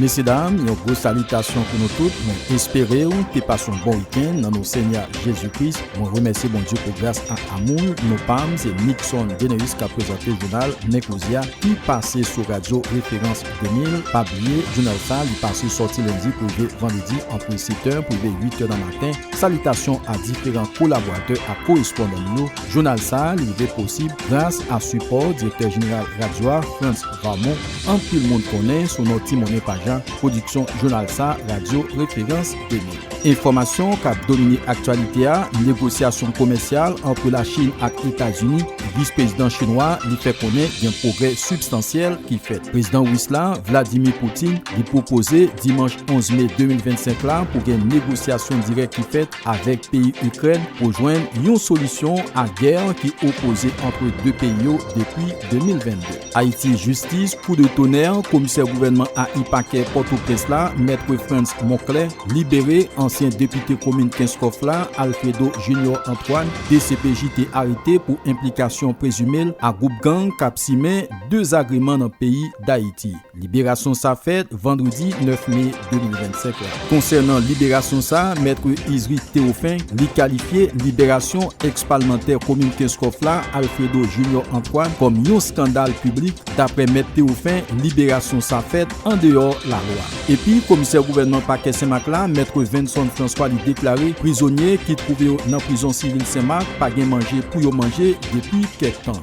Mesyedam, yon gwo salitasyon pou nou tout. Mwen espere ou te pase yon bon wikenn nan nou Senyè Jezi Kris. Mwen remèsye Bondye pou gras ak amoul nou pam. Se Nickson Deneus k ap prezante jounal Nèg Koze a ki pase sou radyo Referans. 2000 pa bliye jounal sa li pase sòti lendi pou rive vandredi antre 7 è pou rive 8 è nan maten salitasyon a diferan kolaboratè ak korespondan nou yo jounal sa li rive posib gras a sipò direktè jeneral radyo a Frantz Varmon anpil moun konnen sou non ti monnen pajan pwodiksyon jounal sa radyo referans. Enfòmasyon k ap domine aktyalite a, Negosyasyon komèsyal antre Lachin ak Etazini, Vis Prezidan Chinwa li fè konnen gen pwogrè sibstansyèl ki fèt. Prezidan Ris la, Vladimir Putin, li pwopoze dimanch 11 me 2025 la pou gen negosyasyon dirèk ki fèt avèk peyi Ikrèn pou jwenn yon solisyon a gè ki opoze antre 2 peyi yo depi 2022. Ayiti Jistis kou de tonè, komisè gouvènman AI pakè Pòtoprens la, Maitre Frantz Monclè, libere ansyen depite komin Kenskòf la, Alfredo Junior Antoine, dcpj te arete pou enplikasyon prezime l a gwoup gang kap simen dezagreman nan peyi Dayiti. Liberasyon sa fèt vandredi 9 me. 2025 la. Konsènan liberasyon sa a, Mètre Isry Théophin, li kalifye liberasyon ex palmantè komin Kenskòf la, Alfredo Junior Antoine kòm yon skandal piblik, daprè Mèt Théophin liberasyon sa fèt andeyò lalwa. Epi komisè gouvènman pakè Senmak la, Mètre Venson François li deklare prizonye ki twouve yo nan prizon sivil Senmak pa gen manje pou yo manje depi kèk tan.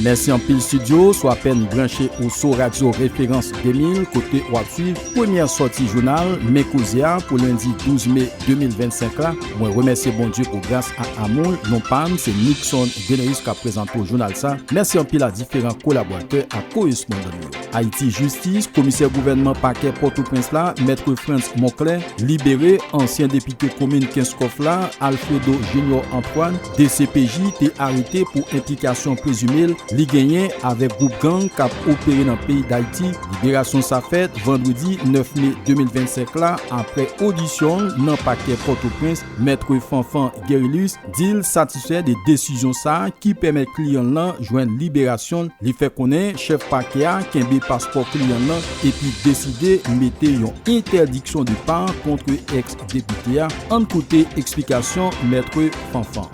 Mèsi anpil Studio sou apèn branche ou sou radyo referans 2000 kote wap swiv premyè sòti jounal men koze a pou lendi 12 me 2025 la mwen remèsye Bondye pou gras ak amoul non pam se Nickson Deneus kap prezante w jounal sa mèsi anpil a diferan kolaboratè ak korespondan nou. Ayiti Jistis, Komisè Gouvènman Pakè Pòtoprens la, Maitre Frantz Monclin, libere ansyen depite komin Kenskòf la, Alfredo Junior Antoine, dcpj te arete pou enplikasyon prezime li genyen avèk gwoup gang k ap opere nan peyi Dayiti. Liberasyon sa fèt vandredi 9 me 2025 la, aprè odisyon l nan Pakè Pòtoprens, Maitre Fanfan Gerilus, di l satisfè de desizyon sa a ki pèmèt kliyan l lan jwenn liberasyon l, li fè konnen chèf pakè a kenbe paspò kliyan l lan epi deside mete yon entèdiksyon depart kontre ex depite a, ann koute eksplikasyon Maître Fanfan.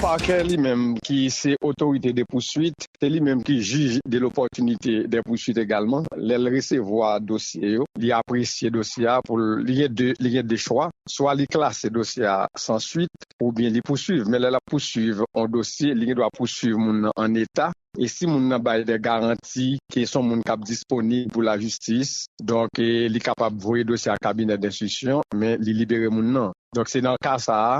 Pakè li menm ki se otorite de pouswit, se li menm ki jij de lopòtinite dè pouswit egalman, lè l resevwa dosye yo, li apresye dosye a pou l, li gen 2 chwa. swa li klase dosye a san swit oubyen li pousuiv, men lè lap pousuiv yon dosye li gen dwa pousuiv moun nan an eta e si moun nan bay dè garanti ke son moun kap disponib pou lajistis donk li kapab voye dosye a kabinè denstrisyon men li libere moun nan donk se nan ka sa a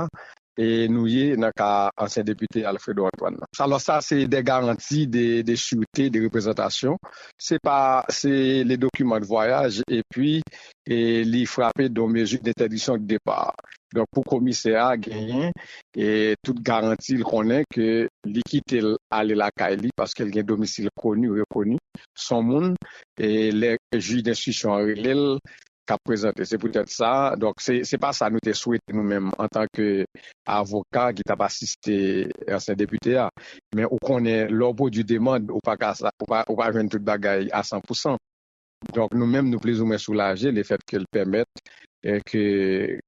e nou ye nan ka ansyen depite Alfredo Antoine nan. Alò sa se de garanti de surete, de reprezantasyon, se pa se le dokiman de vwayaj epi li frape don mezi dentèdiksyon de depa. Donk pou komisè a genyen tout garanti l konnen ke li kite l ale lakay li paske l gen domisil koni, rekoni, son moun e lè jij denstriksyon an rele l k ap prezante. Se poutèt sa, donk, se pa sa nou te swete nou menm antanke avoka ki t ap asiste ansyen depite a. Men ou konnen, lè w pwodui demand, ou pa ka sa, ou pa jwenn tout bagay a san pou san. Donk, nou menm nou plizoumwen soulaje lefètke l pèmèt ke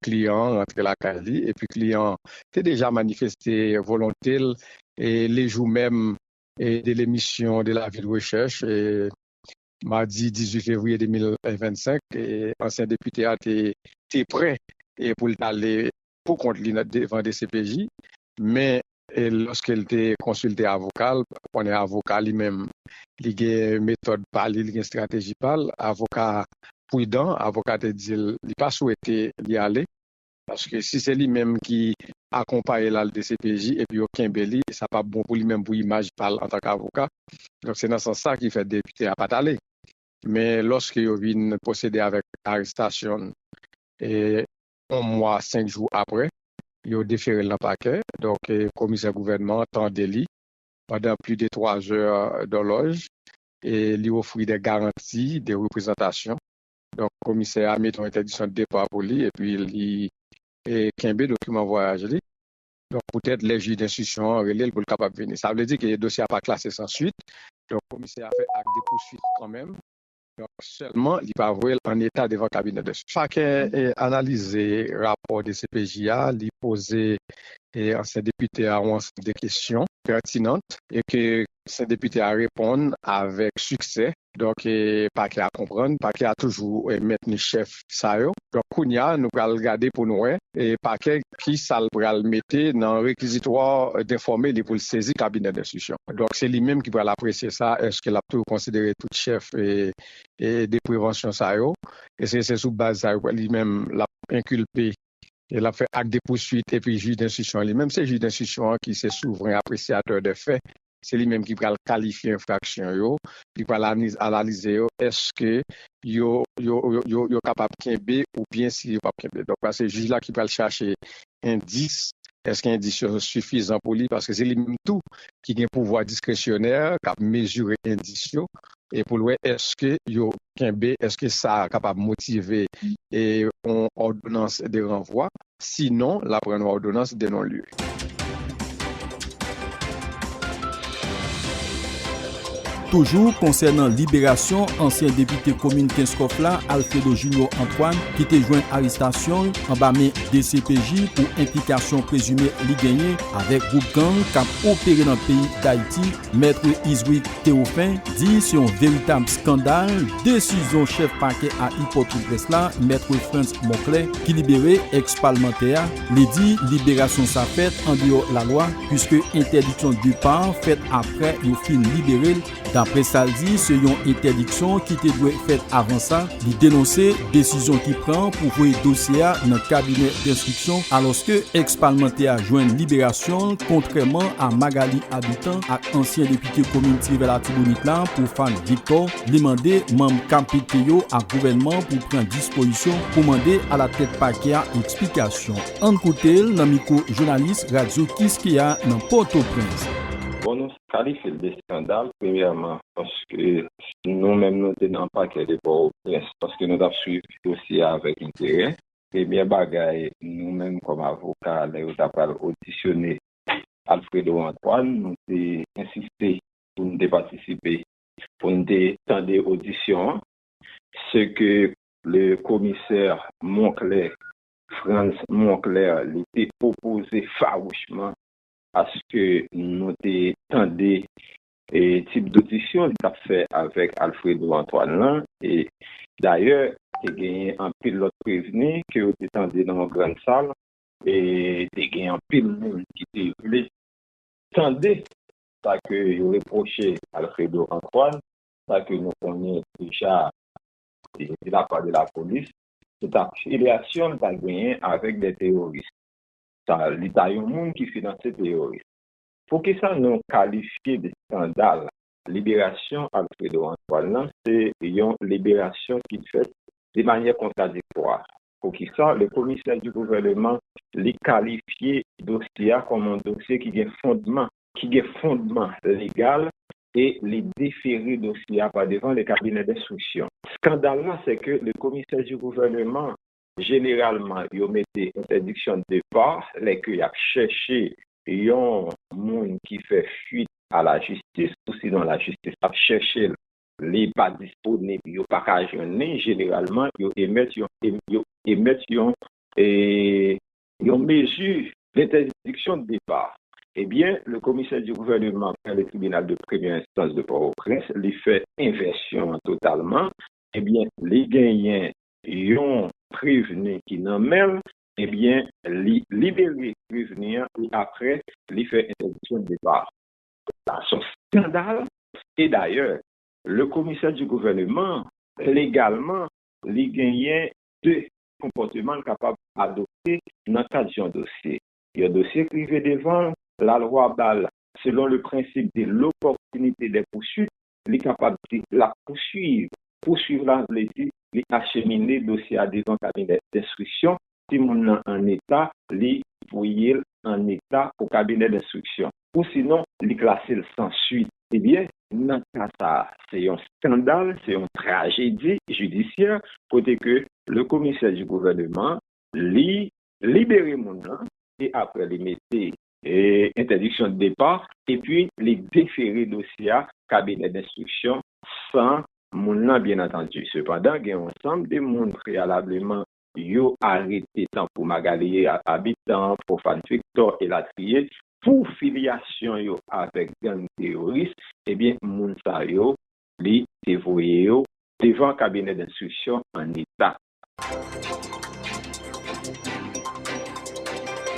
kliyan an rantre lakay li. Epi kliyan an te deja manifeste volonte l le jou menm de l'emission de la ville recherche Madi 18 fevriye 2025, ansyen depite a te te prè pou l t ale pou kont li devan dcpj, men lòske l te konsilte avoka l, konnen avoka li menm li gen metòd pa li, li gen estrateji pa l, avoka a pridan, avoka te di l li pa swete li ale. Paske si se li menm ki akonpaye l al dcpj epi yo kenbe li, sa pap bon pou li menm pou imaj pa l antanke avoka. Donk se nan sans sa ki fè depite a pa t ale. Men lòske yo vin pwosede avèk arestasyon l yon mwa senk jou aprè, yo defere l nan pakè. Donk komisè gouvènman an tande li pandan pli de twa zè dòlòj e li ofri de garanti de reprezantasyon Donk komisè a met yon entèdiksyon depa pou li epi li kenbe dokiman vwayaj li. Donk poutèt lè jij denstriksyon an rele l pou l kapab vini. Sa vle di ke dosye a pa klase san swit. Donk komisè a fè ak de pouswit kanmenm. Donk sèlman li pa voye l an eta devan kabinè denstriksyon. Pakè analize rapò dcpj a, li poze ansyen depite a yon ansanm de kesyon pètinant e ke ansyen depite a reponn avèk siksè. Donk pakè a konprann, pakè a toujou mentni chèf sa yo. Donk kounya nou pral gade pou nou wè pakè ki sa l pral mete nan rekizitwa denfòme li pou l sezi kabinè denstriksyon. Donk se li menm ki pral apresye sa, èske l ap tou konsidere tout chèf de prevansyon sa yo, èske se sou baz sa yo li menm l ap enkilpe e l ap fè ak de pousuit epi jij denstriksyon an li menm se jij denstriksyon an ki se souvren apresyatè dè fè. Se li menm ki pral kalifye enfraksyon yo, li pral analize yo eske yo kapab kenbe oubyen si yo pap kenbe. Donk la se jij la ki pral chache endis, eske endis yo sifizan pou li paske se li menm tou ki gen pouvwa diskresyonè kap mezire endis yo e pou l wè eske yo kenbe, eske sa kapab motive yon òdonans de ranvwa. Si non, l ap rann ou awdonans de non lye. Toujou konsènan liberasyon ansyen depite komin Kenskòf la, Alfredo Junior Antoine, ki te jwenn arestasyon l anba men dcpj pou enplikasyon prezime li genyen avèk gwoup gang k ap opere nan peyi Dayiti, Maitre Iswick Theophin di se yon veritab skandal desizyon chèf pakè a i Pòtoprens la, Maitre Frantz Moclé, ki libere ex palmantè a. Li di liberasyon sa fèt andeyò lalwa puiske entèdiksyon depar fèt aprè yo fin libere l. Daprè sa l di se yon entèdiksyon ki te dwe fèt avan sa. Li denonse desizyon ki pran pou voye dosye a nan kabinè denstriksyon alòske ex palmantè a jwenn liberasyon l kontrèman a Magalie Habitant ak ansyen depite komin Tirèvè Latibonit la Prophane Victor li mande manm kpt yo ak gouvènman pou pran dispozisyon pou mande alatèt pakè a eksplikasyon ann koute l nan mikwo jounalis radyo Kiskeya nan Pòtoprens. kalifye l de skandal premyèman paske si nou menm nou te nan pakè de Pòtoprens paske nou t ap swiv dosye a avèk enterè premyè bagay nou menm kòm avoka lè yo ta pral odisyone Alfredo Antoine nou te ensiste pou n te patisipe pou n te tande odisyon an se ke le komisè Monclair Frantz Monclair li te opoze fawouchman Aske nou te tande tip dodisyon li t ap fè avèk Alfredo Antoine lan? E dayè, te genyen anpil lòt prevni ke yo te tande nan yon grann sal. E te gen anpil moun ki te vle tande sa ke yo repwoche Alfredo Antoine, sa ke nou konnen deja de la pa de lapolis, se ta filyasyon li ta genyen avèk de teworis. sa li ta yon moun ki finanse teyoris. Poukisa nou kalifye de skandal liberasyon Alfredo Antoine lan se yon liberasyon ki fèt de manyè kontradiktwa? Poukisa le commissaire du gouvernement li kalifye dosye a kòm yon dosye ki gen fondman, ki gen fondman legal e li defere dosye a pa devan le cabinet d'instruction? Skandal la se ke le commissaire du gouvernement Jeneralman, yo mete entèdiksyon depa lè ke yap chèche yon moun ki fè fuit a la jistis ou sinon la jistis ap chèche l, li pa disponib, yo pa ka jwenn li, jeneralman yo emèt yon yo emèt yon yon mezi dentèdiksyon depa. Ebyen, le Commissaire du Gouvernement prè le Tribinal de Premyè Enstans de Port-au-Prince, li fè envèsyon an totalman, ebyen li genyen yon prevni ki nan men l, ebyen li libere prevni an e aprè li fè entèdiksyon depa. Sa son skandal e dayè le komisè di gouvèneman legalman li genyen 2 konpòteman l kapab adopte nan kad yon dosye. Yon dosye k rive devan l, lalwa ba l selon le prensip de l'opportunité des poursuites Li kapab di l ap pousuiv. Pousuiv la vle di li achemine dosye a devan kabinè denstriksyon. Si moun nan an eta, li voye l an eta pou kabinè denstriksyon. Ou sinon, li klase l san suit. Ebyen, nan ka sa a, se yon skandal, se yon trajedi jidisyè kote ke le commissaire du gouvernement li libere moun nan e apre li mete entèdiksyon depa epi li defere dosye a kabinè denstriksyon san moun lan byen antandi. Sepandan, gen yon ansanm de moun preyalableman yo arete tankou Magalie Habitant, Prophane Victor elatriye pou filyasyon yo avèk gang teyoris, ebyen moun sa yo li te voye yo devan kabinè denstriksyon an eta.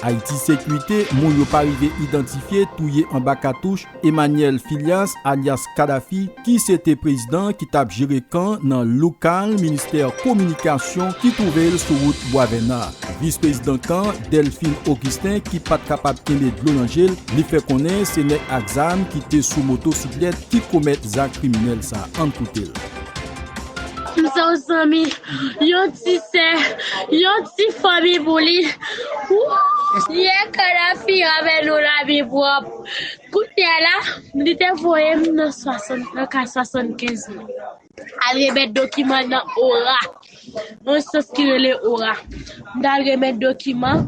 Ayiti Sekurite, Moun yo pa rive idantifye touye anba katouch Emmanuel Philias alyas Kadhafi ki se te prezidan ki t ap jere kan nan lokal ministè kominikasyon ki twouve l sou wout Bwavèna. Vis prezidan kan, Delphine Augustin ki pa t kapab kenbe dlo nan je l, li fè konnen se nèg ak zam ki te sou motosiklèt ki komèt zak kriminèl sa. Ann koute l. Mse w zanmi yon ti sè yon ti fanmi pou li wouuyy ye kadafi avè nou la bi pwòp kounya la li te voye m nan 75 mil al remèt dokiman nan ora. Yon enstans ki rele ora. M ta al remèt dokiman.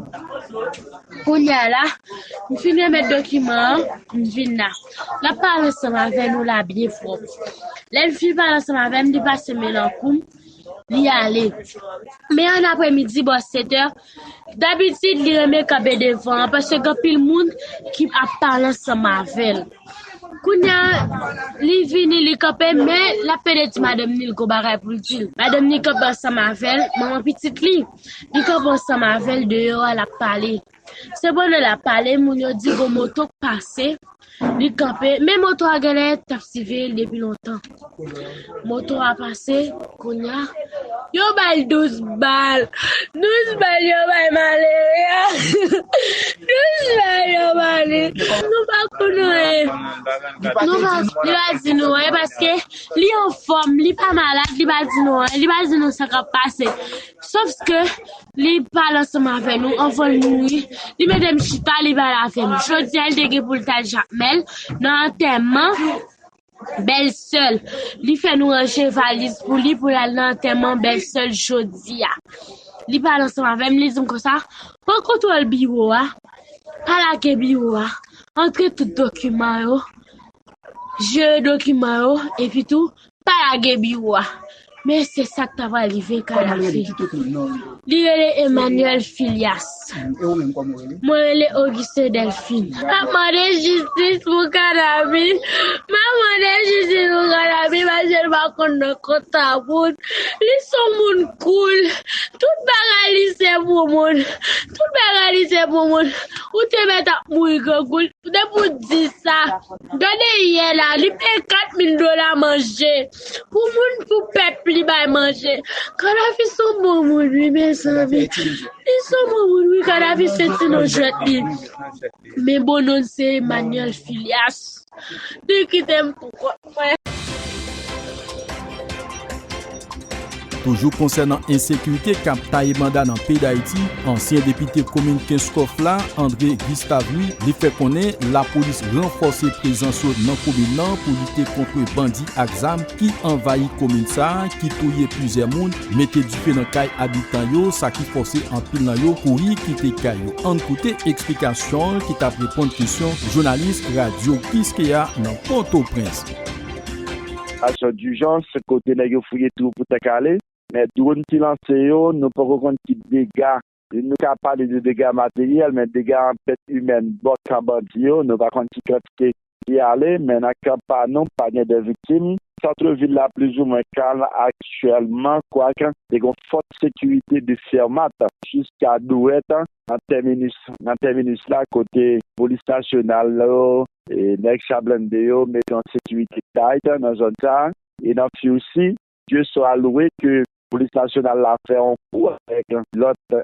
Kounye a la, m fin remèt dokiman an, m vin la. L ap pale ansanm avè nou la byen fò. Lè l fin pale ansanm avè m, li pase men l an kou m, li ale. Men ann apremidi, bò setè. Dabitid li renmen kanpe devan an paske gen anpil moun ki ap pale ansanm avè l. Kounye a, li vini, li kanpe men l ap pede di madanm ni l gen yon bagay pou l di l. Madanm ni kanpe ansanm avè l, manman pitit li, li kanpe ansanm avè l deyò a l ap pale. Se pandan l ap pale moun yo di gen yon moto k pase, Li kanpe, men moto a genlè tap siveyel depi lontan. Moto a pase, kounya yo bal 12 bal. 12 bal yo bay malere a. 12 bal yo bay li. Nou pa konn anyen. Nou pa, li pa di nou anyen paske li anfòm, li pa malad, li pa di nou anyen, li pa di nou sa kap pase. Sof ke Li pale ansanm avè nou anvan l mouri. Li mete m chita, li pale avè m. Jodi a, li te gen pou l t al Jakmèl nan antèman bèlsè l. Li fè nou ranje valiz pou li pou l al nan antèman bèlsè l jodi a. Li pale ansanm avè m, li di m konsa, Pran kontwòl biwo a, pa lage biwo a, antre tout dokiman yo, jere dokiman yo epitou Pa lage biwo a. Men se sa k ta pral rive Kadafi. Li rele Emmanuel Filias. Mwen rele Auguste Delphine. M ap mande jistis pou Kadafi. M ap mande jistis pou Kadafi paske l pa konn nan kont tabout. Li s on moun koul. Tout bagay li se pou moun. Tout bagay li se pou moun. Ou te mèt ap mouri grangou. Depi w di sa. Gade yè la li peye 4 mil dola manje pou moun pou pèp li bay manje kadafi son bon moun wi mezanmi li son bon moun wi kadafi se ti non jwèt li men bon non l se Emmanuel Filias li kite m pou kont mwen. Toujou konsènan ensekirite k ap taye banda nan peyi Dayiti, ansyen depite komin Kenskòf la, André Gustave Louis li fè konnen lapolis ranfòse prezans yo nan komin nan pou lite kontre bandi ak zam ki anvayi komin sa, ki touye plizyè moun, mete dife nan kay abitan yo, sa ki fòse anpil nan yo kouri kite kay yo. Ann koute eksplikasyon l ki t ap reponn kesyon jounalis radyo Kiskeya nan Pòtoprens. Aksyon dijans, kote nèg yo fouye twou pou tank ale. Men dwòn ki lanse yo, nou poko konn ki dega, nou ka pale de dega materyèl, men dega an pèt imèn bò kan bandi yo, nou pa konn ki kantite ki ale, men nan kan pa nou, pa gen de viktim. Santre vil la plizoumwen kalm aktyèlman, kwak te gon fòs sekirite de Fermat jiska Douwèt, nan tèminus la kote polis nasyonal yo e nèg cha blende yo mete yon sekirite tayt nan zòn sa a e nan Furcy, Dieu soit loué ke polis nasyonal la fè yon kou avèk lòt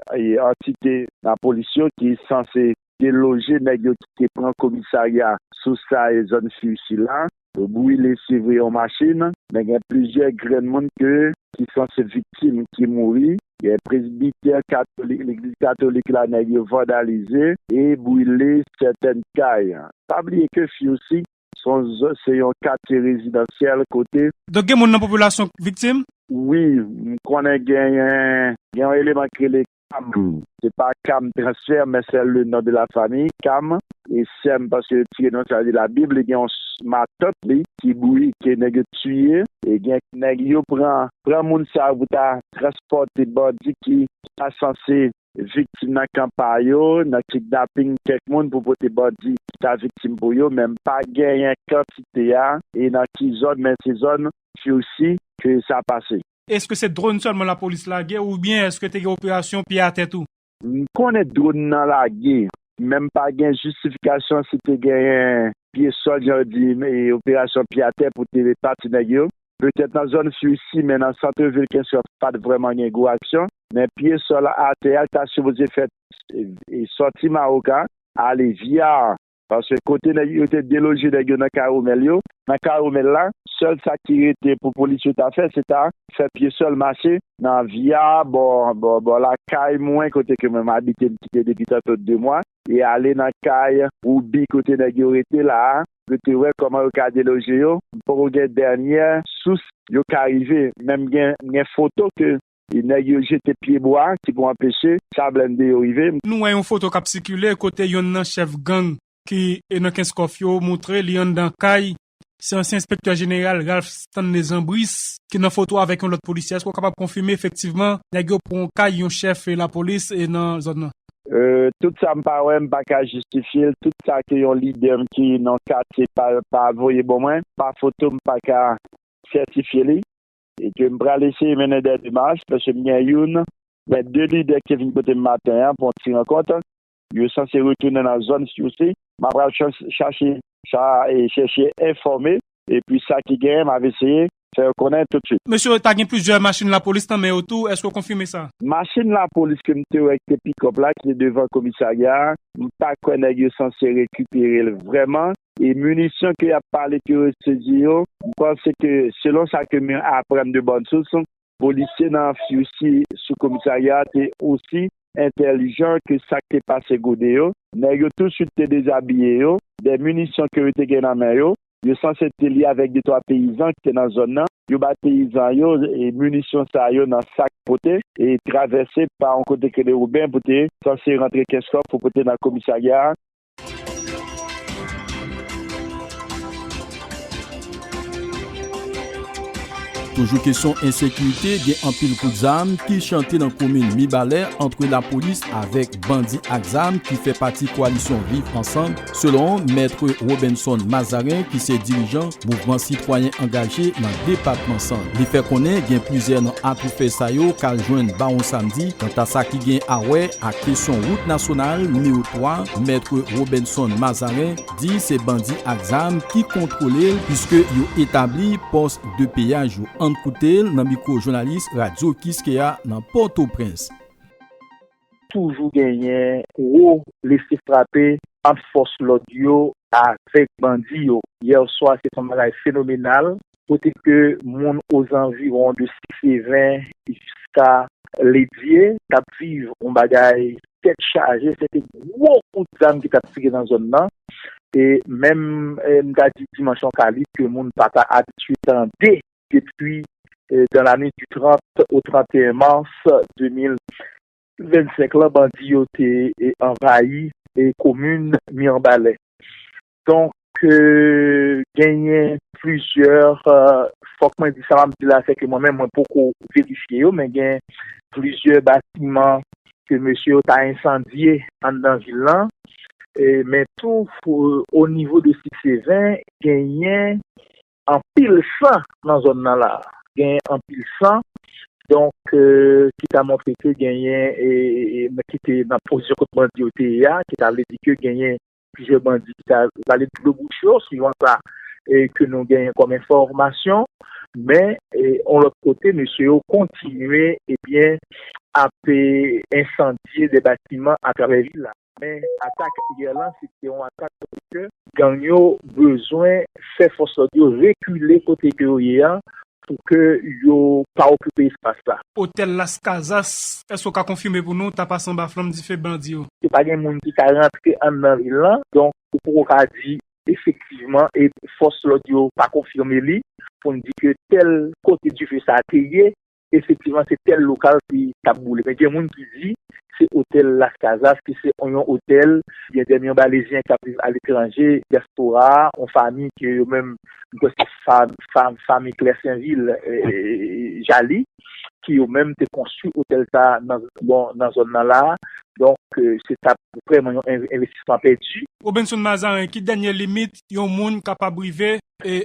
antite nan polis yo ki sanse deloje nèg yo ki te pran komisarya Sousay zòn Furcy la. Yo brile se vre yon machin, men gen plizyè grenn moun ke ki sanse viktim ki mouri, gen presbitè katolik legliz katolik la nèg yo vandalize e brile sètèn kay. Pa bliye ke Fiusi son zòn se yon katye rezidansyèl kote. Donk gen moun nan popilasyon k viktim? Wi, m konnen genyen gen yon eleman k rele Pam se pa cam transfer men sè le non de la famille cam e sèm paske yo tire non sa vle di la bib li gen yon matant li ki bouike nèg yo tiye e gen nèg yo pran pran moun sa yo pou ta transpòte bandi ki ta sanse viktim nan kan pa yo nan kidnaping kèk moun pou pote bandi ki ta viktim pou yo men pa genyen kantite a e nan ki zòn men se zòn fiusi ke sa pase. Eske se drone sèlman lapolis lage oubyen eske te gen operasyon pye atè tou? M konnen drone nan lage, men m pa gen jistifikasyon si te genyen pye sòl jan yo di operasyon pye atè pou te pa ti nèg yo. Petèt nan zòn Fury si men nan centre ville Kenskòf pat vrèman gen gwo aksyon. Men pye sòl atè a li ta sipoze fèt sòti Mawoka ale Via Paske kote nèg yo te deloje nèg yo nan Caromel yo, nan Caromel la, sèl sa ki rete pou polis yo ta fè se ta fè pye sèl mache nan Via bò bò lakay mwen kote ke mwen m abite m kite depi tanto 2 mwa e ale nan kay Roubi kote nèg yo rete la a pou te wè kòman yo ka deloje yo. M poko gen dènyè sous yo ka rive men m gen foto ke E nèg yo jete pye bwa ki pou anpeche sa blende yo rive. Nou wè yon foto kap sikile kote yonn nan chèf gang ki nan Kenskòf yo moutre li anndan kay, se ansyen enspektè jeneral Ralph Stanley Jean Brice ki nan foto avèk yon lòt polisye, èske ou kapab konfime efektivman nèg yo pran kay yon chèf lapolis nan zòn nan? Tout sa m pa wè m pa ka jistifye l, tout sa ke yon lidè m ki nan katye pa voye bon mwen pa foto m pa ka sètifye li. E ke m pral eseye mennen dè demach, paske m gen youn, men de lidè ki te vin kote m maten an pou yon ti rankont. Yo sanse retounen nan zòn Siousse. M apral chache sa e chèche enfòme. E pi sa ki genyen, m ap eseye fè yo konnen toutswit. Mesye yo ta gen plizyè machin lapolis nan men yo tou, èske w konfime sa? Machin lapolis ke m te wè ki te pikòp la, ki te devan komisarya a, m pa kwè nèg yo sanse rekipere l vrèman. E munisyon ke yap pale ke yo sezi yo, m panse ke selon sa ke m aprann de bòn sous, polisye nan Fioussi sou komisarya a te osi entèlijan ke sak te pase gode yo. Nèg yo tou swit te dezabiye yo, de munisyon ke yo te gen nan men yo, yo sanse te li avèk de twa peyizan ki te nan zòn nan, yo bay peyizan yo munisyon sa yo nan sak pote e travèse pa yon kote ki rele Wouben pou te sanse rantre Kenskòf pou pote nan komisarya a. Toujou kesyon ensekirite, gen anpil kout zam ki chante nan komin Mibalè antre lapolis avèk bandi ak zam ki fè pati kwalisyon Viv Ansanm, selon Mèt Robenson Mazarin ki se dirijan Mouvman sitwayen angaje nan depatman Sant. Li fè konnen gen plizyè nan atoufè sa yo k al jwenn Bawon Samdi kanta sa ki gen a wè ak kesyon wout nasyonal nimewo 3, Mètre Robenson Mazarin di se bandi ak zam ki kontwole l puiske yo etabli pòs de peyaj yo. Ann koute l nan mikwo jounalis Radyo Kiskeya nan Pòtoprens. toujou genyen gwo blese frape ant fòs lòd yo avèk bandi yo yè swa se ton bagay fenomenal kote ke moun ozanviwon de Sisseven jiska Ledye t ap viv yon bagay tèt chaje se te gwo kout zam ki t ap tire nan zòn nan e menm m ta di dimansyon kalib ke moun pa ta abitye tande. depi dans la nuit du 30 au 31 mars 2025 lan bandi yo te anvayi komin Mirebalais. Donk genyen plizyè, fòk mwen di sa m ap di la sèke mwen menm mwen poko verifye yo men gen plizyè batiman ke mesye yo ta ensandye anndan vil lan men tou onivo de Sikseven genyen anpil san nan zòn nan la. Genyen anpil san, donk ki ta montre ke genyen moun ki te nan pozisyon kot bandi yo te ye a, ki ta vle di ke genyen plizyè bandi ki ta vale dlo bouch yo, suivan sa ke nou genyen kòm enfòmasyon. Men, yon lòt kote, mesye yo kontinye, ebyen, ap ensandye de batiman atravè vil la. Men atak yè lan se te yon atak kote ke gang yo bezwen fè fòs lòd yo rekile kote ke yo ye an pou ke yo pa okipe espas la. Otèl Las Casas, èske w ka konfime pou nou tapas anba flanm dife bandi yo? Ke pa gen moun ki ka rantre anndan vil lan, donk ou poko ka di efektivman e fòs lòd yo pa konfime li pou n di ke tèl kote dife sa te ye Efektivman se tèl lokal ki tap boule men gen moun ki di se otèl Las Casas ki se yon otèl gen dè milyon balezyen kap viv aletranje, dyaspora, yon fami ke yo menm m kwè se fami Klèsenvil Jali ki yo menm te konstwi otèl sa nan zòn nan la donk se tap vrèman yon envestisman pèdi. Robenson Mazarin ki dènye limit yon moun kapab rive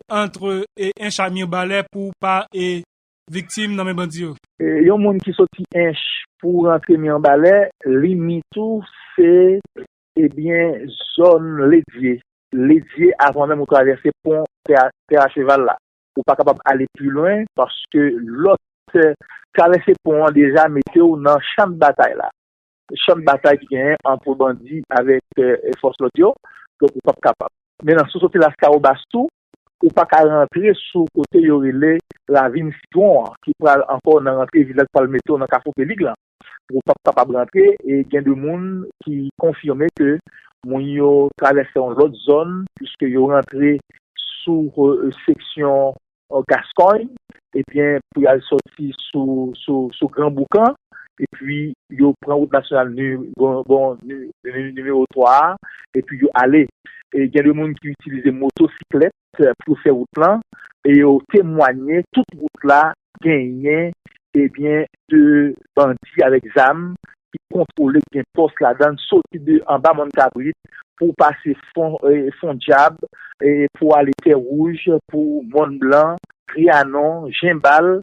antre encha mirbalè pou pa viktim nan men bandi yo. Yon moun ki soti Ench pou rantre Mirebalè, limit ou se ebyen zòn Ledye. Ledye avan menm ou travèse pon Pè a Cheval la. Ou pa kapab ale pi lwen paske lòt travèse pon an deja mete w nan chan batay la. Chan batay ki genyen antre bandi avèk fòs lòd yo, donk ou pap kapab. Men nan si w soti Laskawobas tou, ou pa ka rantre sou kote yo rele Ravin Sitwon an, ki pral ankò nan rantre Vilaj Palmetto nan Kafou Pelig lan. Ou pap kapab rantre e gen de moun ki konfime ke moun yo travèse yon lòt zòn, puiske yo rantre sou seksyon Gascogne ebyen pou yal soti sou gran boukan epi yo pran wout nasyonal nimewo 3 a epi yo ale e gen de moun ki itilize moto siklèt pou yo fè wout lan e yo temwanye tout wout la genyen ebyen de bandi avèk zam ki kontwole, ki gen pòs ladann, soti de anba Mòn Kabrit pou pase Fon Dyab, pou ale Tè Wouj, pou Mòn Blan, Trianon, Jenbal,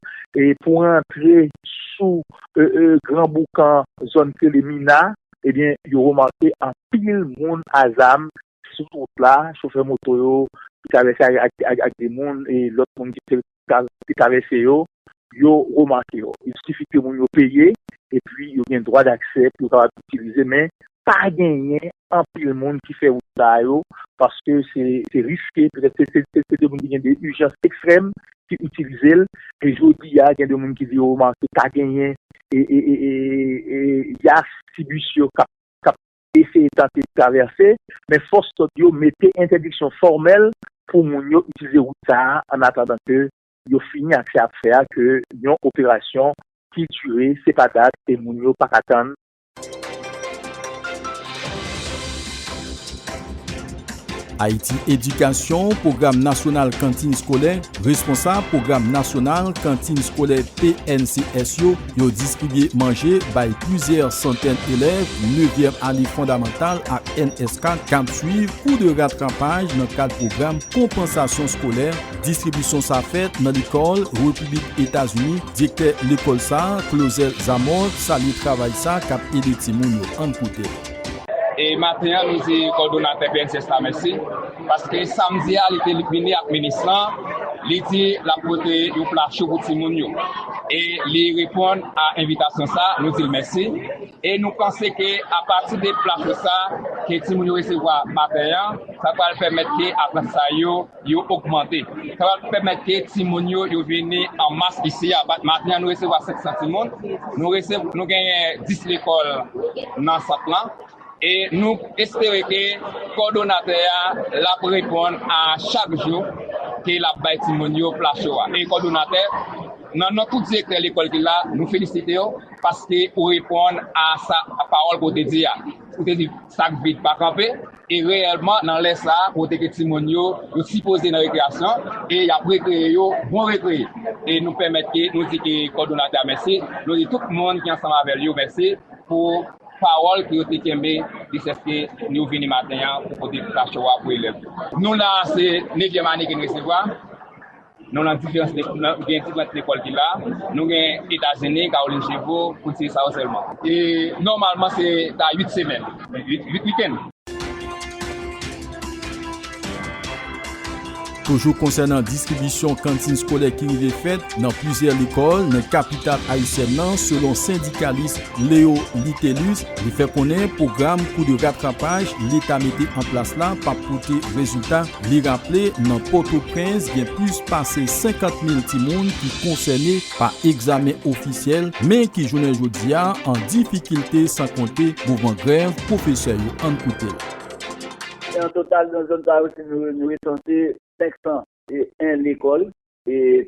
pou rantre sou Gran Boukan, zòn ki rele Mina, ebyen yo remake anpil moun a zam Sou wout la, chofè moto yo ki travèse ak de moun e lòt moun ki te travèse yo, yo remake yo. Il sifi ke moun yo peye epi yo gen dwa daksè pou yo kapab itilize men pa genyen anpil moun ki fè wout sa yo paske se riske, petèt se de moun ki gen de ijans ekstrèm ki itilize l. E jodi a gen de moun ki di yo remake pa genyen yas ti bis yo kap eseye tante travèse, men fòs lòd yo mete entèdiksyon fòmèl pou moun yo itilize wout sa a annatandan ke yo fini ak sa y ap fè a ke yon operasyon ki dire se pa dat e moun yo pa ka tann. Ayiti Edikasyon, Pwogram Nasyonal Kantin Skolè, Responsab Pwogram Nasyonal Kantin Skolè PNCS yo, Yo distribye manje bay plizyè santèn elèv nevyèm ane fondamantal ak NS4 k ap suiv kou de ratrapaj nan kad pwogram konpansasyon skolè. Distribisyon sa fèt nan lekòl Repiblik Etazini. Direktè lekòl sa, Clauzel Zamor, salye travay sa k ap ede timoun yo. Ann koute l. E maten an nou di kòdonatè pnh la mèsi. Paske samdi a li te vini ak minis lan, li di l ap pote yon pla cho pou timoun yo. E li reponn a envitasyon sa, nou di l mèsi. E nou panse ke apati de pla cho sa ke timoun yo resevwa maten an, sa pral pèmèt ke aprantisay yo, yo ogmante. Sa pral pèmèt ke timoun yo, yo vini an mas isi a. Maten an nou resevwa 500 timoun. Nou genyen 10 lekòl nan sant lan. E nou espere ke kòdonatè a l ap reponn a chak jou ke l ap bay timoun yo plas yo a. E kòdonatè, nan non tout direktè lekòl ki la, nou felisite w paske ou reponn a sa pawòl ke w te di a. Ou te di sa k vid pa kanpe, e reyèlman nan lè sa a kote ke timoun yo yo sipoze nan rekreyasyon e y ap rekreye yo, bon rekreye. E nou pèmèt ke nou di ke kòdonatè a mèsi, nou di tout moun ki ansanm avè l yo mèsi pou. Pawòl ke yo te kenbe jiskaske nou vini maten an pou pote Pita Show a pou elèv yo. Nou la a se nevyèm ane ke n resevwa. Nou lan diferans lekòl, nou gen diferant lekòl ki la. Nou gen Etazini, Kawolin Chivo, pou n site sa yo sèlman. E nòmalman se ta 8 semèn, 8 wikenn. Toujou konsènan distribisyon kantin skolè ki rive fèt nan plizyè lekòl nan kapital ayisyèn nan, selon sendikalis Leo Litelus, li fè konnen pwogram kou de ratrapaj leta mete an plas la p ap pote rezilta. Li raple nan Pòtoprens gen plis pase 50 mil timoun ki konsène. Pa egzamen ofisyèl, men ki jounen jodi a an difikilte san konte mouvan grèv pwofesè yo ann koute l. Se an total nan zòn sa yo se nou nou resanse 501 lekòl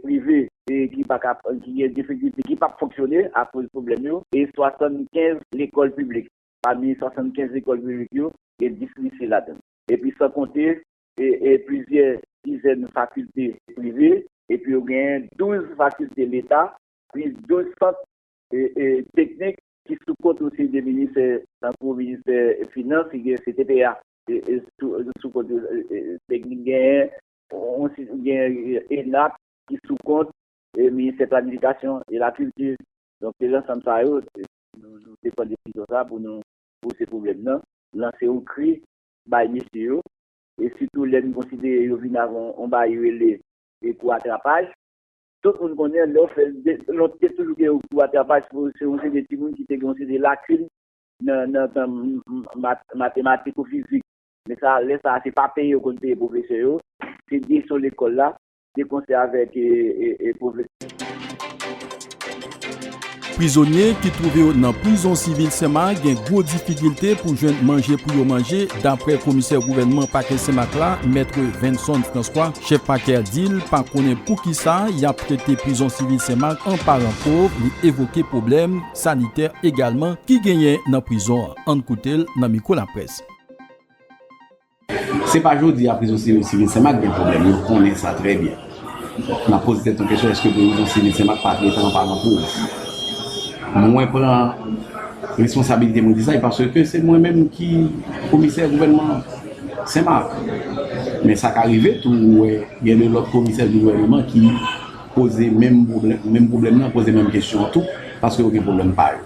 prive ki pa ka ki gen difikilte ki p ap fonksyone akoz pwoblèm yo e 75 lekòl piblik pami 75 lekòl piblik yo gen 10 lise ladan l epi san konte e plizyè dizèn fakilte prive epi yo genyen 12 fakilte leta plis 12 sant teknik ki sou kont yon seri de ministè tankou ministè finans ki gen CTPA sou kont yo teknik genyen ENAP ki sou kont ministè planifikasyon e lakilti donk se lansanm sa yo nou te pran desizyon sa pou nou pouse pwoblèm nan lanse yon kri bay mesye yo, e sitou lè n konsidere yo vin avè yon bayi rele kou atrapaj. Tout moun konnen lè w fè, lont te toujou gen yon kou atrapaj pou se yon seri timoun ki te gen yon seri lakin nan tan matematik ou fizik. Men sa, lè sa a se pa peye yo konn peye pwofesè yo, se direksyon lekòl la. de konsè avèk pwofesè. Prizonye ki twouve yo nan prizon sivil Senma gen gwo difikilte pou jwenn manje pou yo manje, daprè komisè gouvènman pakè Senmak la, Maitre Venson Francois. Chèf pakè a di l pa konnen poukisa y ap trete prizon sivil Senmak an paran pov, li evoke pwoblèm sanitè egalman ki genyen nan prizon an. Ann koute l nan mikwo laprès. Se pa jodi a prizon sivil Senmak gen pwoblèm, nou konnen sa trè byen. N ap poze tèt nou kesyon èske prizon sivil Senmak pa trete anpalan pou ou? Mwen pran responsabilite mwen di sa, paske se mwen menm ki komisè gouvènman Senmak. Men sa ka rive tou ou wè gen de lòt komisè gouvènman ki poze menm pwoblèm nan, poze menm kesyon an tou, paske yo gen pwoblèm pa yo.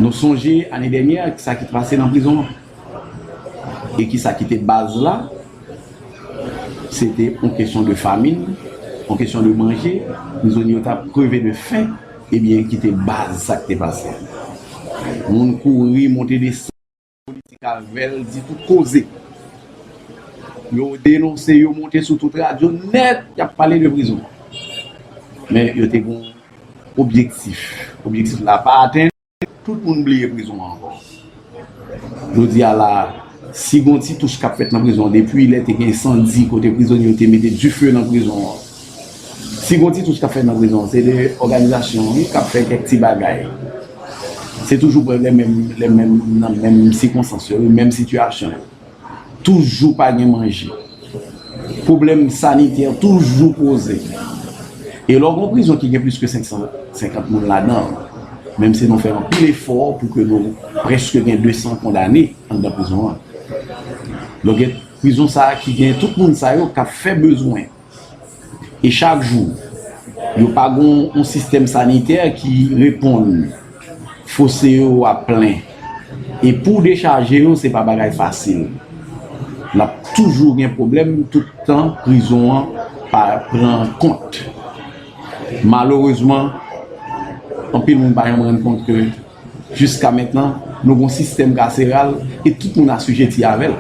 Nou sonje ane dènyè sa ki te pase nan prizon an. E ki sa ki te baz la? Se te yon kesyon de famin, yon kesyon de manje, prizonye yo t ap kreve de fen, ebyen ki te baz sa k te pase. Moun kouri monte desann, polisye Caravelle di tout koze. Yo denonse, yo monte sou tout radyo nèt, y ap pale de prizon. Men yo te gen yon objektif, objektif la pa atenn. Tout moun bliye prizon an ankò. Jodi a la a, si gon ti touch k ap fèt nan prizon an depi lè te gen ensandi kote prizonye yo te mete dife nan prizon an. Si gon ti touch k ap fèt nan prizon an se de òganizasyon an wi k ap fè kèk ti bagay. Se toujou prèske lè menm moun nan menm sikonstans yo, menm sitiyasyon yo. Toujou pa gen manje. Pwoblèm sanitè toujou poze. E lè w gen yon prizon ki gen plis ke 550 moun ladan l, menm si nou fè anpil efò pou ke nou prèske gen 200 kondane anndan prizon an, donk prizon sa a ki gen tout moun sa yo k ap fè bezwen, e chak jou yo pa gon yon sistèm sanitè ki reponn fose yo ap plen e pouw dechaje yo se pa bagay fasil lap toujou gen pwoblèm tout tan prizon an pa pran kont malerezman anpil moun pa janm rann kont ke Jiska mentnan, nou gen yon sistèm kaseral e tout moun asijeti avè l.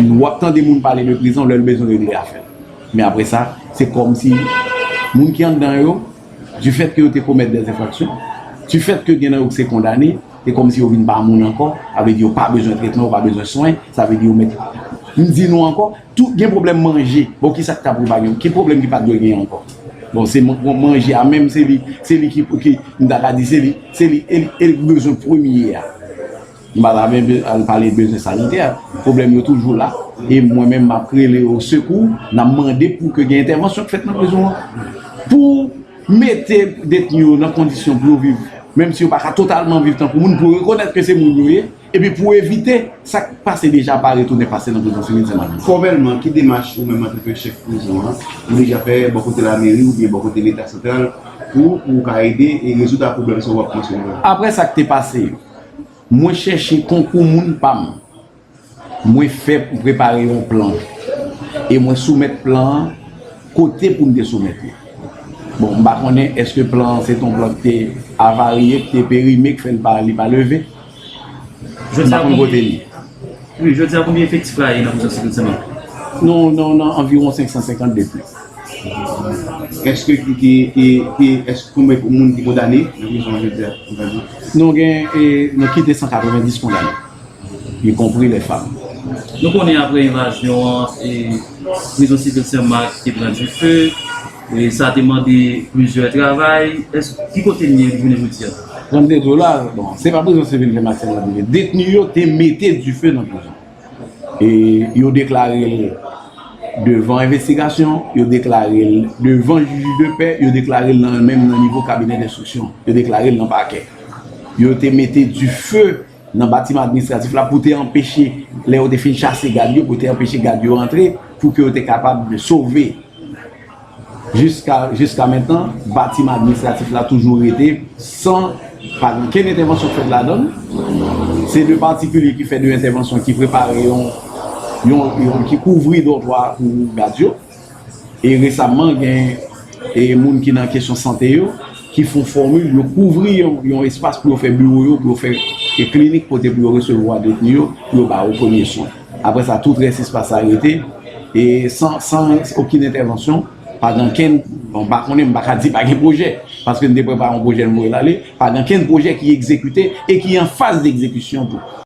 W ap tande moun pale de prizon lè l bezwen regle afè l. Men apre sa, se kòmsi moun ki anndan yo, difèt ke yo te komèt dè enfraksyon, difèt ke gen nan yo ki se kondane, se kòmsi yo vin pa moun ankò, sa vle di yo pa bezwen tretman, yo pa bezwen swen, sa vle di yo mèt. M di nou ankò, Tout gen problem manje bon kisak ta pou pa gen ki problem ki pat dwe gen anko bon se manje a menm se li se li ki ki m ta ka di se li se li el el bezwen premye a m pa ta menm al pale bezwen sanitè problem yo toujou la e mwen menm map rele o sekou nan mande pou ke gen entèvansyon k fèt nan prizon an pou mete detni yo nan kondisyon pou yo viv menm si yo pa ka totalman viv tankou moun pou rekonèt ke se moun yo ye. Epi pou evite sa k pase deja pa retounen pase nan prizon Simin Senmak. Fòmèlman, ki demach ou menm antanke chèf prizon an ou deja fè bò kote lameri oubyen bò kote leta santral pou pou ou ka ede e rezoud a pwoblèm sa yo w ap mansyone la? Aprè sa k te pase yo, mwen chèche konkou moun pa m. Mwen fè m prepare yon plan e mwen soumèt plan an kote pou m te soumèt li. Bon, m pa konnen èske plan an se te yon plan ki te avarye, ki te perime, ki fè li pa li pa leve. Jodi a konbyen efektif la ye nan prizon sivil Sen Mak? Nou nan anviwon 550 detni. Eske konbyen moun ki kondane nan prizon an jodi a? Nou gen ki 290 kondane, y konpri lè fanm. Nou konnen apre envazyon an, prizon sivil Sen Mak te pran dife. Sa te mande plizyè travay. Ki kote n ye jounen jodi a? 32 dola, bon, se pa prizon sivil te mache nan li. Detni yo te mete dife nan prizon. E yo deklare l devan envestigasyon, yo deklare l devan jij de pè, yo deklare l menm nan nivo kabinè denstriksyon, yo deklare l nan pakè. Yo te mete dife nan batiman administratif la pou te anpeche lè yo te fin chase gad yo pou te anpeche gad yo antre pou ke yo te kapab sove jiska jiska mentan batiman administratif la toujou rete san pa gen okenn entèvansyon fèt ladann se de patikilye ki fè de entèvansyon ki prepare yon yon ki kouvri dòtwa pou gad yo. E resamman gen e moun ki nan kesyon sante yo ki fon fòmil yo kouvri yon espas pou yo fè biwo yo, pou yo fè e klinik kote pou yo resevwa detni yo pou yo ba yo premye swen. Apre sa tout rès espas sa rete e san okin entèvansyon pa gen ankenn bon m pa konnen m pa ka di pa gen pwojè paske m te prepare yon pwojè m voye l ale pa gen ankenn pwojè ki egzekite e ki an faz degzekisyon tou.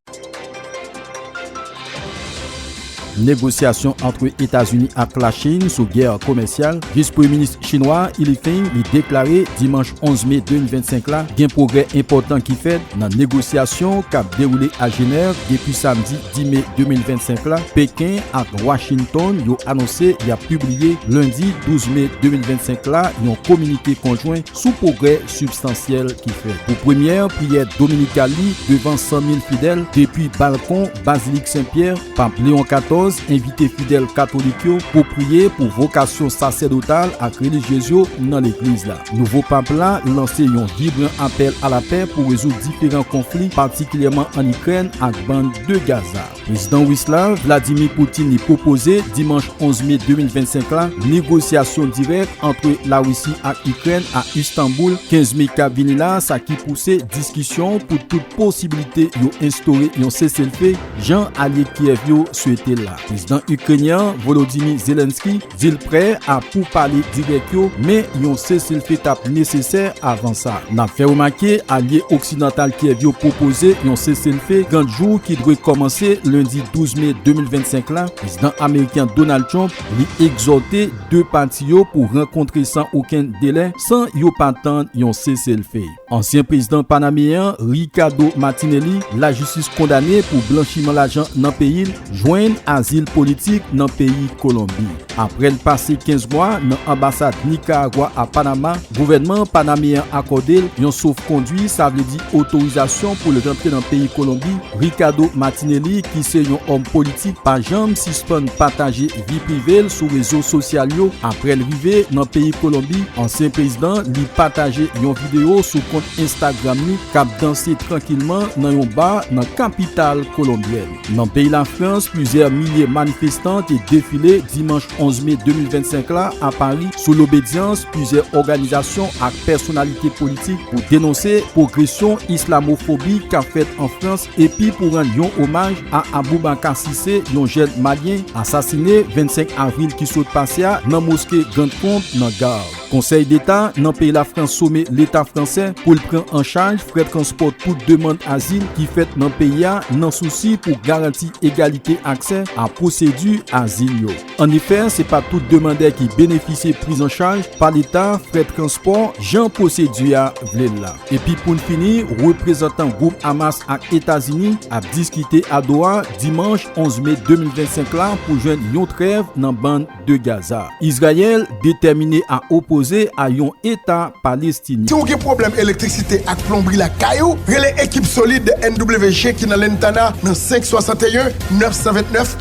Negosyasyon antre Etazini ak Lachin sou gè komèsyal, Vis Premye Minis Chinwa a Li Feng li deklare dimanch 11 me 2025 la gen pwogrè enpòtan ki fèt nan negosyasyon k ap dewoule a Jenèv depi samdi 10 me 2025 la Peken ak Washington yo anonse y ap pibliye lendi 12 me 2025 la yon kominike konjwen sou pwogrè sibstansyèl ki fè pou premyè priyè dominikal li devan 100 mil fidèl depi balkon Bazilik Sen Pyè, Pap Leon 14 envite fidèl katolik yo pou priye pou vokasyon sasèdotal ak relijyez yo nan Legliz la. Nouvo Pap la lanse yon vibran apèl a lapè pou rezoud diferan konfli, patikilyèman ann Ikrèn ak Bann de Gaza. Prezidan Ris la, Vladimir Putin li pwopoze, dimanch 11 me 2025 la, negosyasyon dirèk antre Larisi ak Ikrèn a Istanbul 15 me kap vini la, sa ki pouse diskisyon pou tout posibilite yo enstore yon seselfe, jan alye Kyèv yo swete l la. Prezidan Ikrenyen an, Volodymyr Zelenskyy, Di l prè a pou pale dirèk yo, men yon seselfe t ap nesesè avan sa. N ap fè remake alye oksidantal Kyèv yo pwopoze yon seselfe 30 jou ki dwe kòmanse lendi 12 me 2025 la. Prezidan ameriken Donald Trump li egzòte 2 pati yo pou rankontre san okenn delè, san yo pa tann yon seselfe. Ansyen prezidan panameyen an, Ricardo Martinelli, lajistis kondane pou blanchiman lajan nan peyi l, jwenn azil politik nan peyi Kolonbi. Aprè l pase 15 mwa nan anbasad Nikaragwa a Panama, gouvènman panameyen an akòde l yon sof-kondwi, sa vle di otorizasyon pou l rantre nan peyi Kolonbi. Ricardo Martinelli, ki se yon òm politik, pa janm sispann pataje Vi prive l sou rezo sosyal yo aprè l rive nan peyi Kolonbi, ansyen prezidan li pataje yon videyo sou kont Instagram li k ap danse trankilman nan yon bar nan kapital kolonbyèn. Nan peyi Lafrans, plizyè milye manifestan te defile dimanch 11 me 2025 la a Pari sou lobedyans plizyè òganizasyon ak pèsonalite politik pou denonse pwogresyon islamofobi k ap fèt an Frans epi pou rann yon omaj a Aboubacar Cissé, yon jèn Malyen asasine 25 avril ki sot pase a nan moske Grande Pompe nan Gard. Konsèy Deta nan peyi Lafrans some Leta fransè pou l pran an chaj frè transpò tout demand azil ki fèt nan peyi a nan sousi pou garanti egalite aksè a pwosedi azil yo. Annefè, se pa tout demandè ki benefisye priz an chaj pa leta frè transpò jan pwosedi a vle l la. Epi pou n fini, reprezantan gwoup Hamas ak Etazini ap diskite a Doha dimanch 11 me 2025 la pou jwenn yon trèv nan Bann de Gaza. Izrayèl detèmine a opoze a yon eta Palestinyen. Si w gen pwoblèm elektrisite ak plonbri lakay ou, rele ekip solid NWG ki nan Lantana nan 5 61 929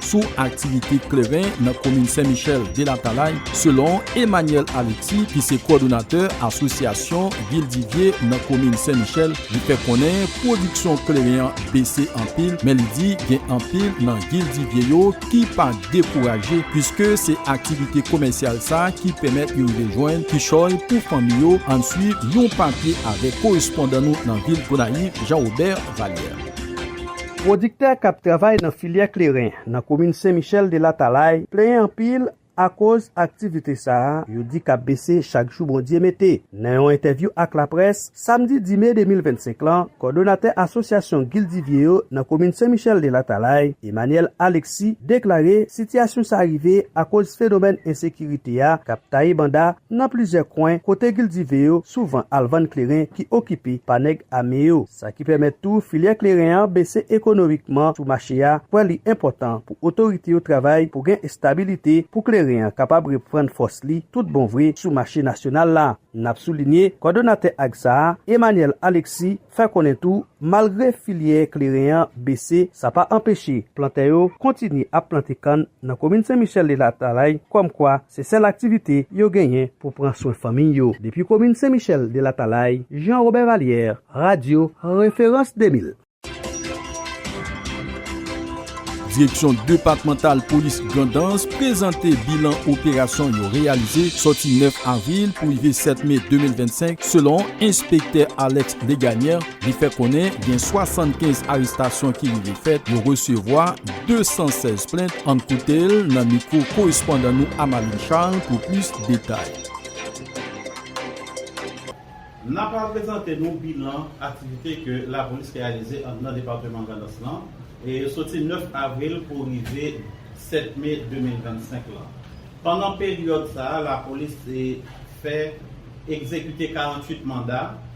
sou aktivite kleren nan komin Sen Michel de Latalay selon Emmanuel Alexis ki se kòdonatè asosyasyon vil Divye nan komin Sen Michel li fè konnen pwodiksyon kleren an bese anpil men li di gen anpil nan vil Divye yo ki pa dekouraje puiske se aktivite komèsyal sa ki pèmèt yo rive jwenn kichòy pou fanmi yo ann swiv yon papye avèk korespondan nou nan vil Gonayiv Jean Robert Vallière. Pwodiktè k ap travay nan filyè kleren nan komin Sen Michèl de Latalay plenyen anpil akoz aktivite sa a yo di k ap bese chak jou Bondye mete. Nan yon entèvyou ak laprès, samdi 10 me 2025 lan, kòdonatè asosyasyon gildivye yo nan komin Sen Michèl de Latalay, Emmanuel Alexis deklare sitiyasyon sa rive akoz fenomèn ensekirite a k ap taye banda nan plizyè kwen kote gildive yo souvan al vann kleren ki okipe pa nèg ame yo. Sa ki pèmèt tou filyè kleren an bese ekonomikman sou mache a, kwè li enpòtan pou otorite yo travay pou gen estabilite pou kleren an kapab reprann fòs li tout bon vre sou mache nasyonal la. N ap soulinye, kòdonatè ag sa a, Emmanuel Alexis, fè konnen tou, malgre filyè kleren an bese, sa pa anpeche plantè yo kontinye ap plante kann nan komin Sen Michèl de Latalay, kòmkwa, Se sèl aktivite yo genyen pou pran swen fanmiy yo depi komin Sen Michèl de Latalay, Jean Robert Vallière, Radio Référence 2000. Direksyon depatmantal polis Grandans prezante bilan operasyon yo reyalize sòti 9 avril pou rive 7 me 2025 selon enspektè Alex Legagneur, Li fè konnen gen 75 arestasyon ki rive fèt, yo resevwa 216 plent, ann koute l nan mikwo korespondan nou Amalie Charles pou plis detay. N a pral prezante nou bilan aktivite ke lapolis reyalize anndan depatman Grandans lan, soti 9 avril pou rive 7 me 2025 lan. Pandan peryòd sa a, lapolis fè egzekite 48 manda,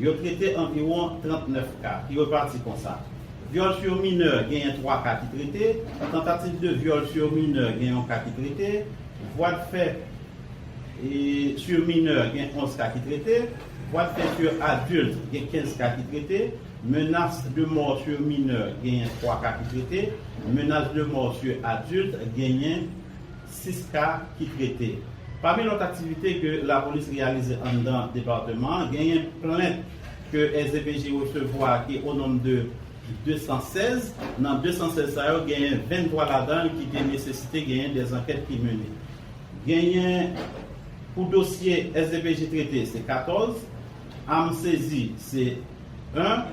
Yo trete anviwon 39 ka, ki repati konsa, Vyòl sur minè genyen 3 ka ki trete, Tentative de viol sur mineur gen yon ka ki trete, Voie de fait sur mineur gen 11 ka ki trete, Voie de fait sur adulte gen 15 ka ki trete, Menace de mort sur mineur genyen 3 ka ki trete, Menace de mort sur adulte genyen 6 ka ki trete. Pami lòt aktivite ke lapolis reyalize anndan departeman an, genyen plent ke SDPJ resevwa ki o nonb de 216. Nan 216 sa yo, genyen 23 ladan l ki te nesesite genyen de zankèt ki mennen. Genyen pou dosye SDPJ trete se 14, am sezi se 1,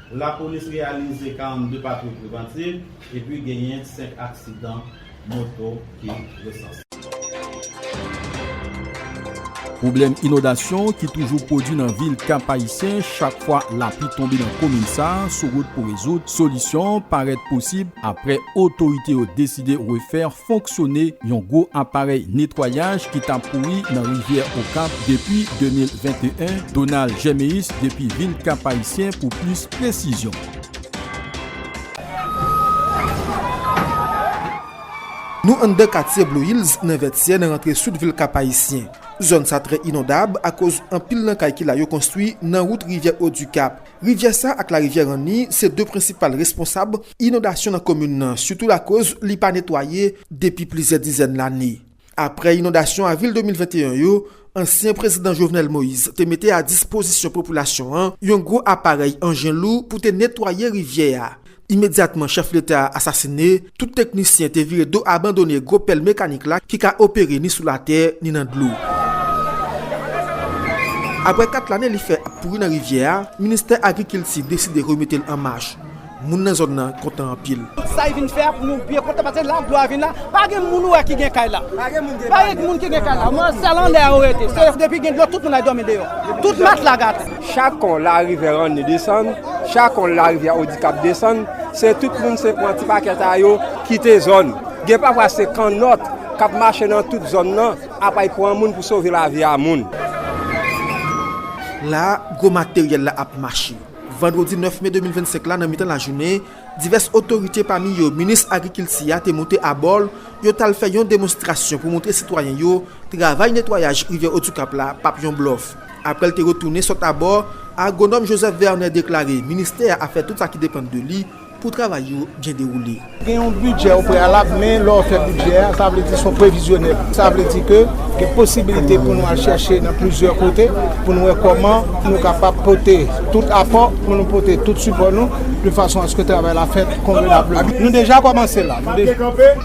Lapolis reyalize 42 patwouy prevantiv epi genyen 5 aksidan moto ki resanse. Pwoblèm inondasyon ki toujou pwodwi nan vil Kap-Ayisyen chak fwa lapli tonbe nan komin sa sou wout pou rezoud, solisyon parèt posib aprè otorite yo deside refè fonksyone yon gwo aparèy netwayaj ki ta pouri nan rivyè Okap depi 2021, Donald Germéus depi vil Kap-Ayisyen pou plis presizyon. Nou anndan katye Blue Hills nan Vètyè nan rantre sid vil Kap-Ayisyen. Zòn sa trè inondab akoz anpil nan kay ki la yo konstwi nan wout rivyè Odikap Rivyè sa ak larivyè Ranni se 2 prensipal responsab inondasyon nan komin nan sitou lakoz li pa netwaye depi plizyè dizèn lane. Aprè inondasyon avril 2021 yo, ansyen prezidan Jovenel Moïse te mete a dispozisyon popilasyon an yon gwo aparèy anjen lou pou te netwaye rivyè a. Imedyatman chèf leta a asasine, tout teknisyen te vire do abandone gwo pèl mekanik la ki ka opere ni sou latè, ni nan dlo. Aprè 4 lane li fè ap pouri nan rivyè a, ministè agrikilti deside remete l an mach. Moun nan zòn nan kontan anpil. Sa li vin fè a pou nou byen kontan paske la glwa vin la. Pa gen moun ou wè ki gen kay la. Pa gen moun ki gen kay la. Sèl anndan yo rete. Depi gen dlo tout moun al dòmi deyò. Tout matla gate. Chak kon larivè ranni desann, chak kon larivyè odikap desann, se tout moun se pran ti pakèt a yo kite zòn. Gen pafwa se kannòt k ap mache nan tout zòn nan apa y pran moun pou sove lavi a moun. La a, gwo materyèl la ap mache. Vandredi 9 me 2025 la nan mitan lajounen, Divès otorite pami yo minis agrikilti a te moute abò l, yo t al fè yon demonstrasyon pou montre sitwayen yo travay netwayaj rivyè Otukap la p ap yon blòf. Aprè l te retounen sot abò, agwonòm Joseph Vernet deklare ministè a ap fè tout sa ki depann de li pou travay yo byen dewoule. Gen yon bidjè opreyalab men lè w fè bidjè a sa vle di se yon previzyonèl. Sa vle di ke gen posibilite pou nou al chèche nan plizyè kote pou nou wè kòman nou kapab pote tout apò pou nou pote tout sipò nou. de fason aske travay la fèt konvenableman. Nou deja kòmanse la.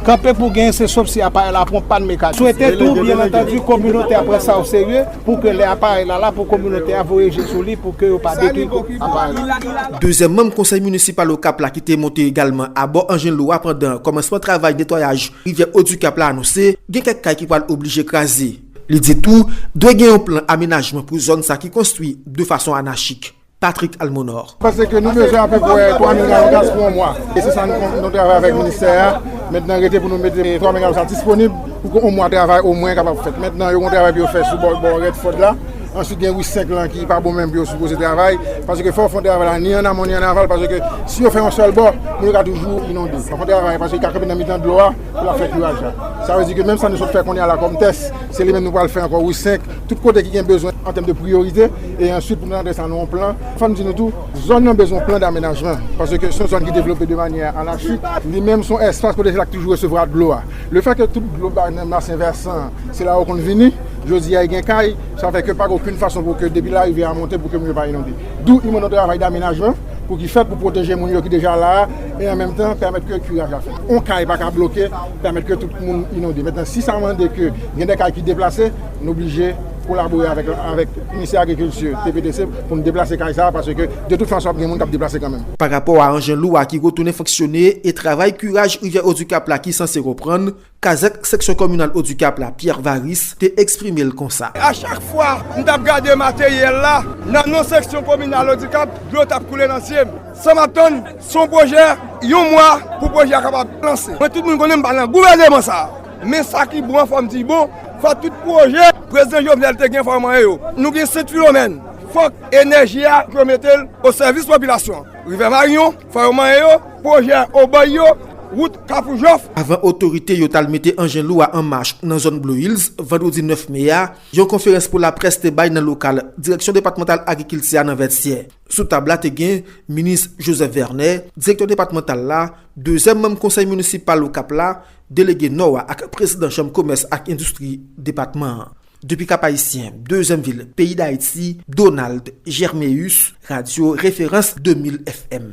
Kanpe pou genyen se sof si aparèy la pran pàn mekanik. Swete tou, byen antandu, kominote a pran sa o serye pou ke lè aparèy la la pou kominote a voye je sou li pou ke yo pa detwi aparèy la. Dezyèm manm konsèy minisipal Okap la ki te monte egalman abò anjen lou a pandan kòmansman travay netwayaj rivyè Odikap la anonse gen kèk kay ki pral oblije kraze. Li di tou, dwe gen yon plan amenajman pou zòn sa ki konstwi de fason anachik. Patrick Almonor. Panse ke nou bezwen apeprè 3 mil galon gaz pou yon mwa. E se sa nou travay avèk ministè a. Mentnan rete pou nou mete 3 mil galon sa disponib pou ke yon mwa travay omwen kapab fèt. Mentnan yo gen yon travay pou yo fè sou bò Redford la. Answit gen ri 5 lan ki pa bon menm pou yo sipoze travay. Panse ke fò yo fon travay la ni an amon ni an aval. Panse ke si yo fè yon sèl bò, moun yo ka toujou inonde. Fò yo fon travay panse yo ka kanpe nan mitan dlo a pou la fè kuraj la. Sa vle di ke menm sa nou sot fè kounye a la kòm tès, se li menm nou pral fè ankò ri 5. Tout kote ki gen bezwen an tèm de priyorite, e answit pou nou rantre sa nan yon plan. Fò m di nou tou, zòn nan bezwen yon plan damenajman, paske se yon zòn ki devlope de manyè anachik. Li menm se yon espas kote se la ki toujou resevwa dlo a. Le fè ke tout dlo bay nan basen vèsan an, se la yo konn vini. Jodi a, yo gen kay, sa fè ke pa gen okenn fason pou ke depi larivyè a monte pou ke moun yo pa inonde. Dou imon yon travay damenajman pou ki fèt pou pwoteje moun yo ki deja la a, e an menm tan pèmèt ke kiraj la fèt. Yon kay pa ka bloke, pèmèt ke tout moun inonde. Mentnan, si sa mande ke gen de kay ki deplase, Nou blije kolabore avèk Ministè Agrikilti, TPDC, pou n deplase kay sa a paske de tout fason ap gen moun k ap deplase kanmenm. Pa rapò a anjen lou a ki retounen fonksyone e travay kiraj rivyè Odikap la ki sanse reprann, kazèk seksyon kominal Odikap la, Pierre Varis, te eksprime l konsa. A chak fwa m t ap gade materyèl la nan non seksyon kominal Odikap, dlo t ap koule nan zye m. Sa m ap tann, se yon pwojè yon mwa pou pwojè a kapab lanse. Mwen tout moun konnen m pa nan gouveneman sa a. Men sa ki bon an fòm di bon, fò tout pwojè Prezidan Jovenel te gen fò yo manyen yo. Nou gen 7 filomèn, fòk enèji a yo mete l o sèvis popilasyon an. Rivè Maryon, fò yo manyen yo, pwojè Obòy yo, wout Kafou Jòf. Avan otorite yo t al mete anjen lou a an mach nan zòn Blue Hills vandredi 9 me a, yon konferans pou laprès te bay nan lokal Direksyon depatmantal agrikilti a nan Vètyè. Sou tab la te gen Minis Joseph Vernet, Direktè Depatmantal la, dezyèm manm Konsèy Minisipal Okap la, Delege Nò a ak Prezidan Chanm Komès ak Endistri Depatman an. Depi Kap-Ayisyen, dezyèm vil peyi Dayiti, Donald Germéus, Radyo Referans 2000 FM.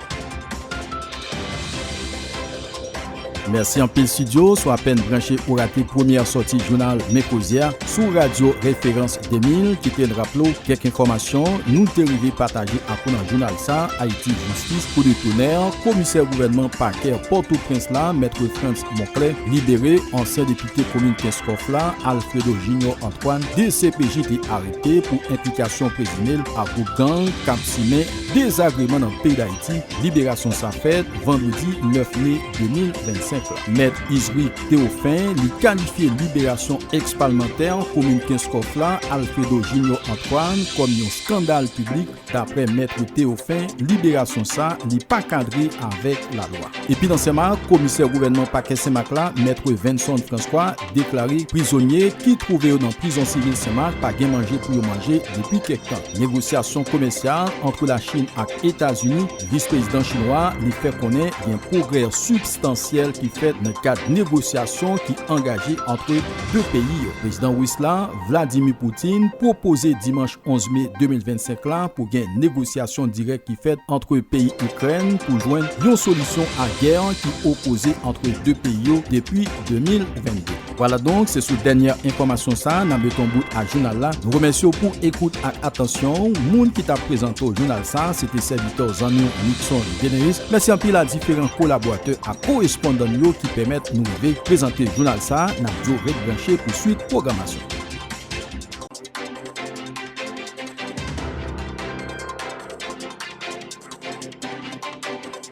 Mèsi anpil Studio si w apèn branche ou rate premyè sòti jounal Men Koze a sou radyo Referans 2000 kite n raple w kèk enfòmasyon nou te rive pataje ak ou nan jounal sa Ayiti Jistis pou detounè komisè gouvènman pakè Pòtoprens la Maitre Frantz Monclè libere ansyen depite komin Kenskòf la Alfredo Junior Antoine dcpj te arete pou enplikasyon prezime l a gwoup gang k ap simen Dezagreman nan peyi Dayiti, Liberasyon sa fèt vandredi 9 me 2025 la. Mèt Izwi Tewofin li kalifye liberasyon ex palmantè komin Kenskòf la Alfredo Jinyò Antwàn kòm yon skandal piblik. Daprè Mètre Tewofin, liberasyon sa li pa kadre avèk lalwa. Epi nan Senmak, komisè gouvènman pakè Senmak la, Mètre Venson Francois, deklare prizonye ki twouve yo nan prizon sivil Senmak pa gen manje pou yo manje depi kèk tan. Negosyasyon komèsyal antre Lachin ak Etazini, Vis Prezidan chinwa a li fè konnen gen pwogrè sibstansyèl ki fèt nan kad negosyasyon ki angaje antre 2 peyi yo. Prezidan Ris la, Vladimir Putin, pwopoze dimanch 11 me 2025 la pou gen negosyasyon dirèk ki fèt antre peyi Ikrèn pou jwenn yon solisyon a gè ki opoze antre 2 peyi yo depi 2022. Vwala donk se sou dènyè enfòmasyon sa a nan beton bout a jounal la. Nou remèsye w pou ekout ak atansyon w. Moun ki t ap prezante w jounal sa a se te sèvitè w zanmi w Nickson Généus. Mèsi anpil a diferan kolaboratè ak korespondan n yo ki pèmèt nou rive prezante jounal sa a. N ap di w ret branche pou swit pwogramasyon.